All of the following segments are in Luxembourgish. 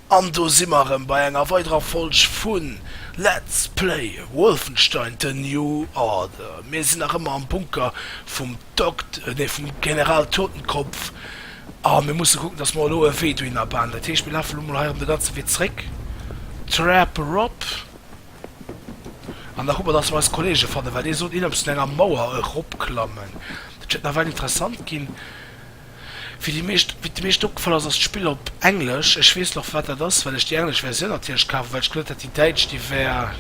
An do si mer erëm bei enger weiderer Folg vu Let's Play Wolfenstein, The New Order. Mir sinn nach ëmmer am Bunker vum Dokt, nee vum General Totenkopf a mir musse kucken, dass mer elo e Wee dohin abanen. Dat heescht, mir lafe elo mol hei erëm de ganze Wee zréck, Trap erop an da kucke mer, dass mer eis Kollege fannen, well dee sollt inems un enger Mauer eropklammen. Dat wäert nawell interessant ginn. Wéi déi meescht, wéi et de meeschten opgefall ass, ass d'Spill op Englesch. Ech weess nach firwat dat ass, well ech déi englesch Versioun natierlech kaf well ech gesot hat déi däitsch déi wär,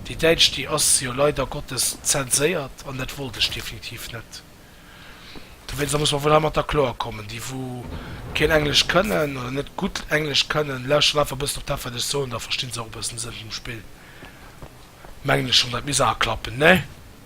déi däitsch déi ass jo leider Gottes zenséiert an dat wollt ech definitiv net. Dowéinst, da muss mer wuel heimatter kloer kommen. Déi wou keen Englesch kënnen oder net gutt Englesch kënnen, lauschteren einfach e bëssen op dat wat ech soen, da verstinn se och e bëssen de Sënn vum Spill, mengen ech schon. Dat misst awer klappen, ne?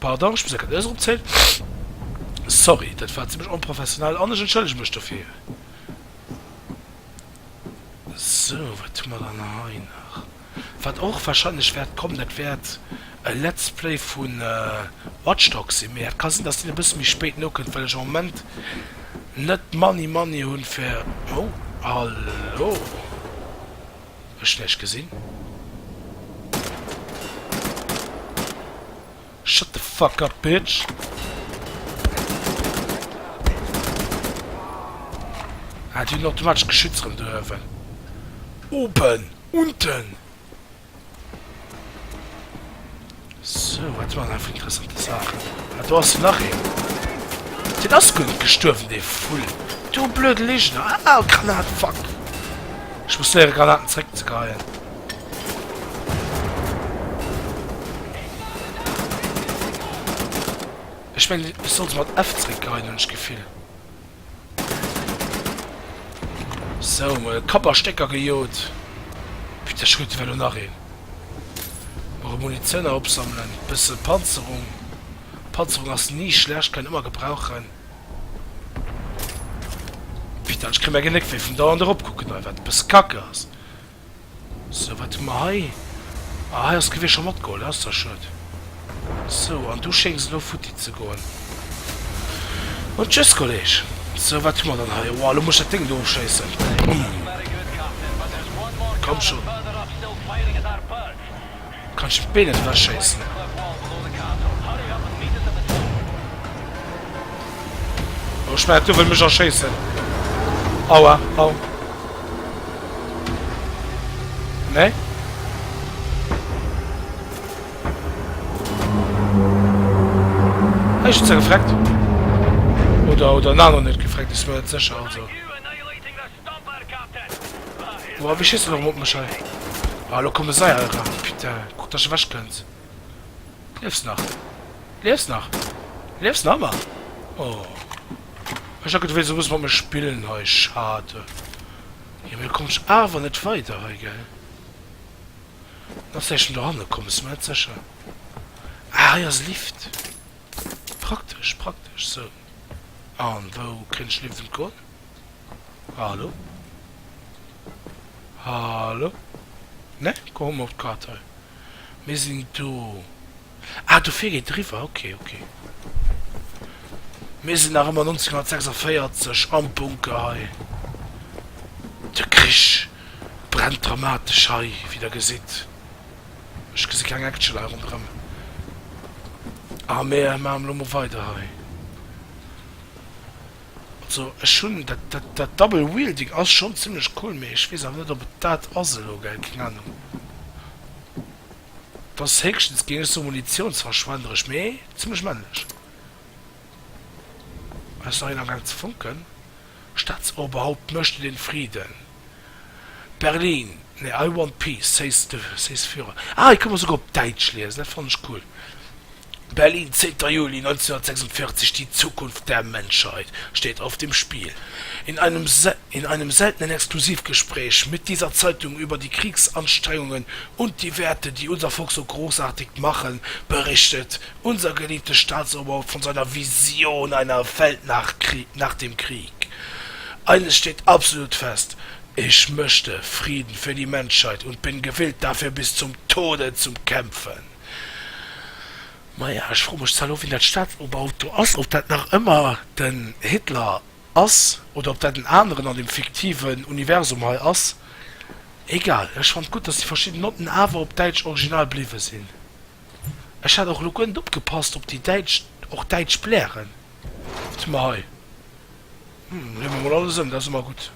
Pardon, ech muss enker d'Nues eropzéien. Sorry, dat war zimlech onprofessionell an ech entschëllege mech dofir. Sou, wat hu mer dann hei nach? Wat och warscheinlech wäert kommen, dat wäert e Let's Play vu Watch Dogs sinn, mee et ka sinn, dass deen e bësse méi spéit nokënnt, well ech am Moment net d'Money Money hunn fir, oh, hallo! Ech däich gesinn. Shut the fuck up bitch. Ah déi hunn automatesch Geschütz rëm do uewen. Oben. Unten. Sou, wat waren dat fir interessante Saachen? Ah, do ass nach een. Deen ass guer net gestuerwen, dee Vull. Du blöde Ligener! Ah, Granat, fuck! Ech muss léiere Granaten zréck ze geheien. Ech mengen, ech sollt se mat F zréck geheien, hunn ech d'Gefill. So mol Kapp a Stécker gejot. Putain ech kruten elo nach een. Mol Munitioun nach opsammelen. Bësse Panzerung. Panzerung ass ni schlecht, kann een ëmmer gebrauchen. Putain ech kréie mäi Genéck wéi vum dauernd erop kucken hei, wat bësse kacke ass. Sou, wat hu mer hei? Ah, hei ass d'Gewier scho matgeholl, dat ass da schued. Sou, an du schéngs elo futti ze goen. Bon, tschüss, Kolleg. Sou, wat hu mer dann hei? Oua, elo muss ech dat Déng do ofschéissen. Bäh! Komm schonn! Kann ech d'Been net ewech schéissen? Oh, ech mengen, d'Duff wëll mech erschéissen. Aua, au. Nee? Ech hun se gefreckt. Oder, oder, na, no net gefreckt, ech war net sécher, also. Boah, wie schéisst dann erëm op mech hei? Ah, elo komme sei hei eran. Putain, kuck, dass de ewech kënns. Liefs nach? Liefs nach? Liefs nach ëmmer? Oh. Ech hat geduet, du wéilt esou e bësse mat mir spillen hei. Schade. Jo, mee du komms awer net weider hei, gell? Ass éischten dohanne komm, bist du net sécher? Ah, hei ass Lift. Praktesch, praktesch, sou. An wou kréien ech liewend en Ton? Hallo? Hallo? Ne, komm hu mer och d'Kart hei. Mir sinn do. Ah, dofir geet e riwwer. Ok, ok. Mir sinn nach ëmmer 1946 am Bunker hei. De Krich brennt dramatesch hei, wéi der gesitt. Ech gesi keng Action hei ronderëm. A mir maachen elo mol weider hei. Also ech hunn dat, dat, dat Double Wielding ass schonn zimlech cool, mee ech weess awer net ob et dat ass elo, gell, keng Anung. Et ass héchstens, géing ech soen, munitiounsverschwenderesch, mee zimlech männlech. Hei ass nach een am gaang ze fonken. Staatsoberhaupt möchte den Frieden. Berlin, nee, I Want Peace, Says the Says Führer. Ah, hei ka mer souguer op Däitsch liesen, dat fannen ech cool. Berlin, 10. Juli 1946, Die Zukunft der Menschheit steht auf dem Spiel. In einem in einem seltenen Exklusivgespräch mit dieser Zeitung über die Kriegsanstrengungen und die Werte, die unser Volk so großartig machen, berichtet Unser geliebtes Staatsoberhaupt von seiner Vision einer Welt nach dem Krieg. Eines steht absolut fest, Ich möchte Frieden für die Menschheit und bin gewillt dafür bis zum Tode zu kämpfen. Maja, ech froe mech zwar elo wien dat Staatsoberhaupt do ass, ob dat nach ëmmer den Hitler ass oder ob dat en aneren an dem fiktiven Universum hei ass. Egal, ech fand gutt, dass déi verschidden Notten awer op Däitsch Original bliwwe sinn. Ech hat och elo guer net opgepasst op déi däitsch, och däitsch Blären. Wat hu mer hei? Hm, leeë mer mol alles ëm, dat ass ëmmer gutt.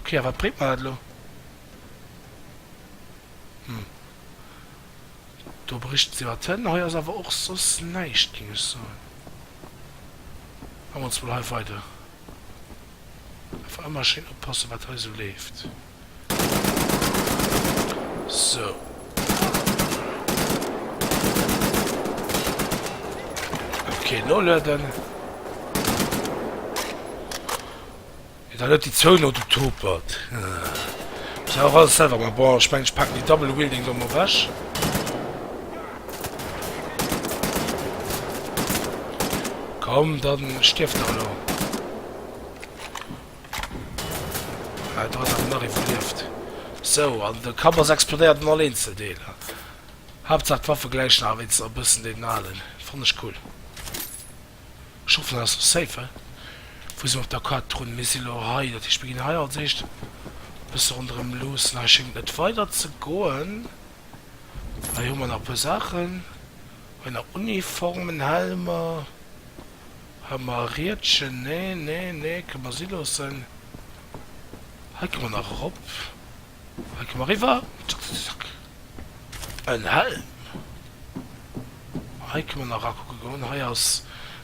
Okay, a wat bréngt mer dat elo? Hm, do berichten se iwwer d'Hënn. Hei ass awer och soss näischt, géing ech soen. Maache mer ons mol hei weider. Einfach ëmmer schéin oppassen, wat hei esou leeft. Sou. Ok, nolueden. Et hat net déi zwou no du topert. Muss awer alles selwer ma bon, ech meng ech packen déi Double Wielding do mol weg. Komm, dann stierft der elo. Ah, do ass awer nach ee verlieft. Sou, an de Kapp ass explodéiert an all eenzel Deeler. Haaptsaach d'Waffe gläicht nach wéinstens nach e bëssen deenen alen. Fann ech cool. Ech hoffen, dat ass lo safe, he? Wou si mer op der Kaart drun? Mir si lo hei. Dat heescht, mir ginn hei als éischt e bësse ronderëm luussen. Hei schéngt net weider ze goen. Hei hu mer nach e puer Saachen. Hei nach Uniformen, Helmer. Hei ma e Riedchen, nee, nee, nee, kënne mer si loossen. Hei kënne mer nach erop, hei kënne mer eriwwer, zackzackzack, en Helm. Hei kënne mer nach rakucke goen, hei ass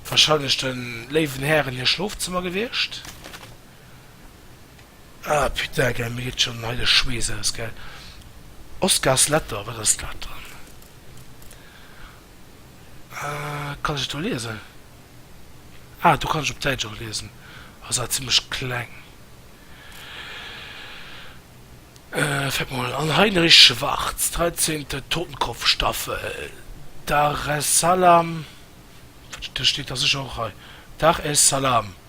warscheinlech de léiwen Hären hir Schlofzëmmer gewiescht. Ah putain, gell, mir geet schonn hei de Schweess aus, gell. Oscars Letter, wat ass dat dann? Kann ech et do liesen? Ah, do kann ech op Däitsch och liesen. Ass awer zimmlech kleng. Fäert mol an, Heinrich Schwarz, dreizehnte Totenkopfstaffel, Dar es Salaam, wat steet da sécher och hei? Dar es Salaam.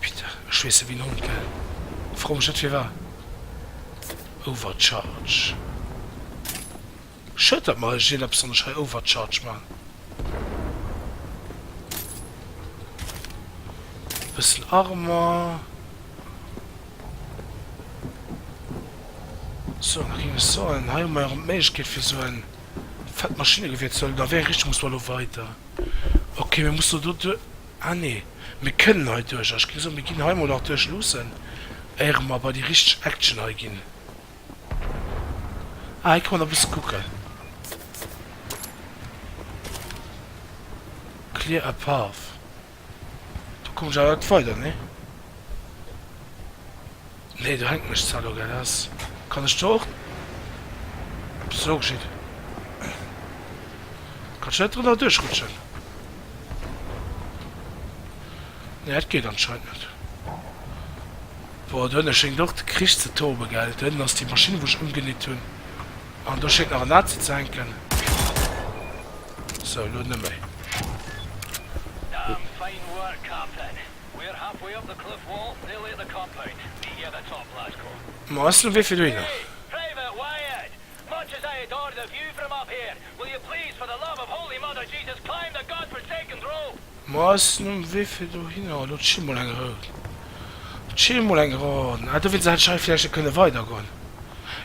Peter, Ech weess ewéi en Hond, gell? Fro mech net firwar. Overcharge. Schued, datt mer eis jee eppes an der Schei overcharge man. E bëssen Armer. So, da géing ech soen, hei hu mer erëm d'Méiglechkeet fir esou e fett Maschinegewier ze huelen. An a wéi eng Richtung musse mer elo weider? Ok, mir mussen elo do duer. Ah nee, mir kënnen hei duerch. A ech géing soen, mir ginn hei mol nach duerch luussen, éiere mer bei déi richteg Action hei ginn. Ah, hei ka mer nach e bësse kucken. Clear a path. Do komme ech awer net weider, nee? Nee do hänkt mech zwar lo grad aus. Kann ech do och sou geschitt kann ech net drënner duerchrutschen? Nee dat geet anscheinend net. Boah do ënne schéngt och de Krich ze toben gell. Do ënnen ass déi Maschinn wou ech ëmgenitt hunn an do schéngt nach en Nazi ze hänken. Sou lo net méi. Ma ass lo wee fir dohinner? Ma ass lo wee fir dohinner? Lo chill mol eng Roun. Chill mol eng Roun. Ah, dowéinst hätt ech hei vläicht net kënne weidergoen.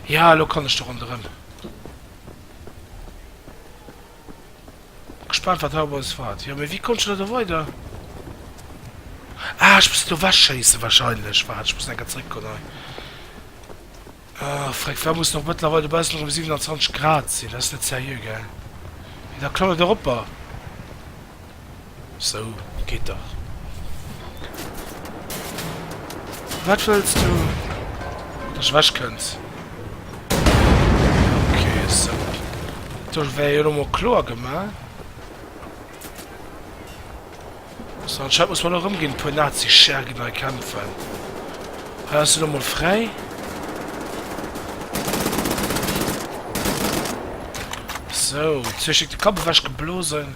Jo, lo kann ech do ronderëm. Gespaant wat haut bei ons feiert. Jo mee wéi konnt ech leider weider? Ah ech muss et do wech schéissen wahrscheinlech. Waart ech muss enker zréck kommen hei. Ah freck war muss och mëttlerweil dobaussen erëm 27 Grad sinn. Dat ass net seriö gell? Mee da klammt et erop a. Sou geet dach. Wat wëlls du? Dass ech ewech kënns? Okay, sou. Dech wär jo lo mol kloer gemaach. So, anscheinend muss man lo rëmginn, e puer Nazi-Schergen hei kämpfen. Hei ass lo mol fräi. So, zwee Stück de Kapp ewech geblosen.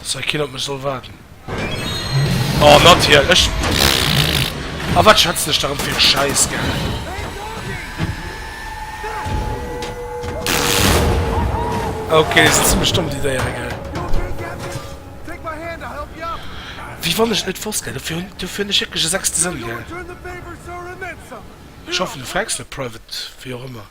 Dass hei keen op mech soll waarden. Oh, natierlech! A wat schätzen ech da rëm fir e Schäiss, gell? Okay, déi sinn zimlech domm, déi Déiere, gell? Wéi wann ech et net wosst, gell? Dofir hunn, dofir hunn ech wierklech e sechste Sënn, gell? Ech hoffen, du frechs net private, wéi och ëmmer.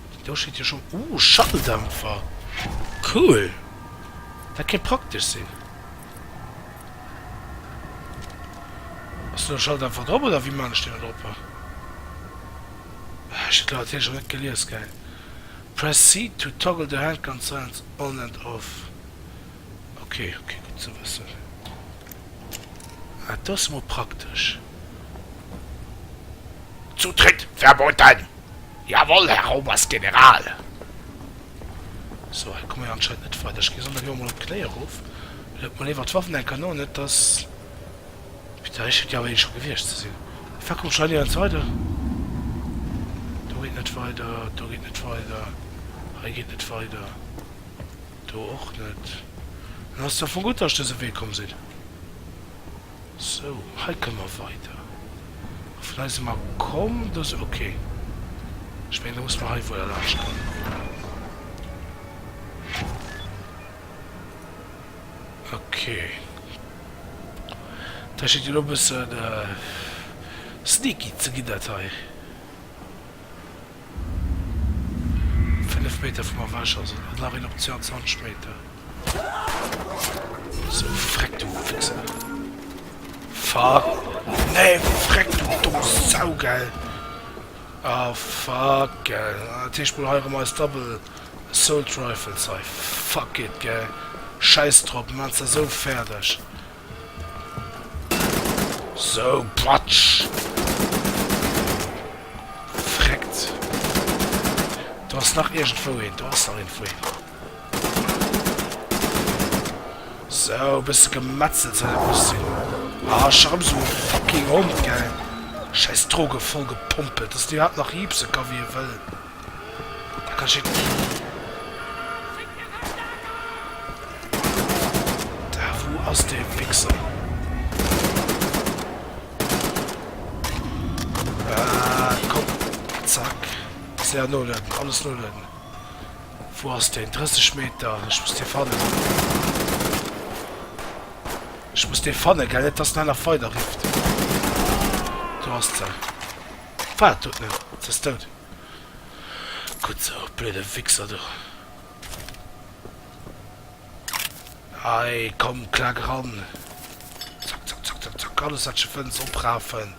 Do steet jo schon, oh Schalldämpfer, cool, dat kéint praktesch sinn. Ass do e Schalldämpfer drop oder wéi maan ech deen erop? Ah ech hunn d'Leit hiercher net gelies, geil. Press C to toggle the hand constraints on and off, ok ok gutt ze wëssen. Ah do ass emol praktesch. Zutritt verboten! Jawoll, Här Oberstgeneral! Sou, hei komme mir anscheinend net weider. Ech ginn dann elo emol op d'Knéi erof. Luet mol léiwer d'Waffen eng Kéier no, net dass. Mee da schéngt jo awer ee scho gewiescht ze sinn. Mee wa komm scho, hei geet et weider. Do geet net weider, do geet net weider, hei geet net weider, do och net. Dann ass et jo vu gutt, dass ech dëse Wee komm sinn. Sou, hei komme mer weider. A vun eisem A komm, do se ok. Ech mengen, da musse mer hei wuel a laanscht goen. Ok. Dat schéngt jo elo e bësse sneaky ze ginn, dat hei. Fënnef Meter vum Erwësch ass et nach een op 22 Meter. So freck du Wichser! Fuck! Nee freck du domm Sau gell! Ah fuck gell! Ah dat heescht mol hei erëm eis Double Assault Rifles hei. Fuck it gell! Schäiss drop, mer maachen se esou fäerdeg. Sou, patsch! Freckt! Do ass nach iergendwou een, do ass nach iergendwou een. Sou, e bësse gemetzelt soll dat mech sinn. Ah, ech erëm sou e fucking Hond, gell! Schäiss Droge vollgepompelt, dass en iwwerhaapt nach riipse ka wéi e wëll. Da kann ech hit. Da wo ass de Wichser? Ah, komm. Zack. Sehr null, alles null. Wo ass den 30 Meter? Ich muss dir fannen. Ich muss dir fannen, gell? Nicht, dass einer weiter rifft. Du hast sie. Fahrt tut nicht. Das ist tot. Gutt sou, blöde Wichser du. Hei, komm, klack eran. Zack, zack, zack, zack, zack. Alles, wat sche fënns, oprafen.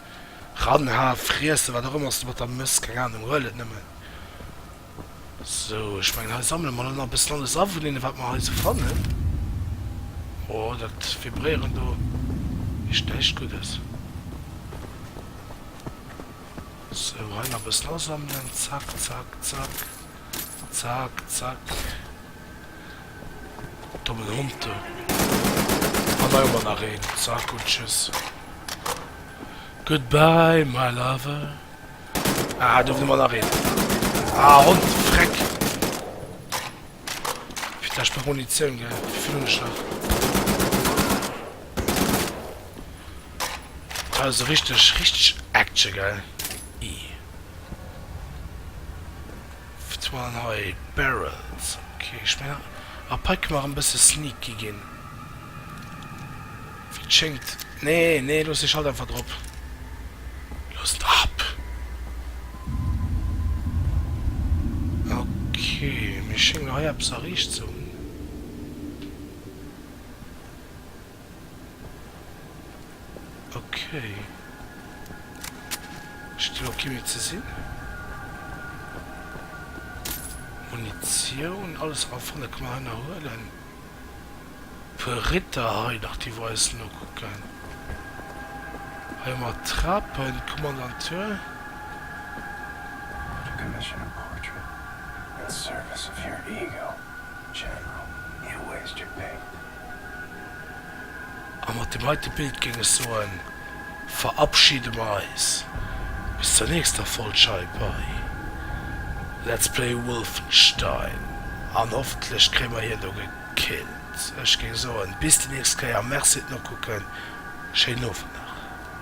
Ranha, friessen, wat och ëmmer s du mat der mëss. Keng Ahnung, huel et nëmmen. Sou, ech mengen, hei sammele mer elo nach e bëssen alles a vun deene, wat mer hei sou fannen. Oh, dat Vibréieren do heescht näischt Guddes. Sou, hei nach e bëssen asammelen. Zack, zack, zack. Zack, zack. Dommen Hond, du. An hei hu mer nach een. Zack un tschüss. Goodbye, my lover. Ah, do hu mer nach een. Ah, Hond, Freck. Fir d'lescht nach Munitioun, gell? Wéi vill hunn ech nach? Also richteg richteg Action gell ii wat war dann hei Barrels ok ech mengen ab hei kënne mer erëm e bësse sneaky ginn wéi et schéngt nee nee looss de Schalt einfach drop looss en drop ok mir schénge mer hei eppes erreecht ze hunn. Okay. Ech ginn och kee méi ze sinn. Munitioun, alles eraf fanne ka mer heianer huelen. E puer Ritter hei nach, déi wou eis nokucken. Hei hu mer Trapen, Kommandantur. To commission a portrait in service of your ego, General, you waste your paint. A mat deem heite Bild géing ech soen, verabschiede mer eis bis zur nächster Vollscheif bei Let's Play Wolfenstein an hoffentlech kréie mer hien do gekillt. Ech géing soen, bis déi nächst Kéier, Merci, d'Nokucken, schéinen Owend nach.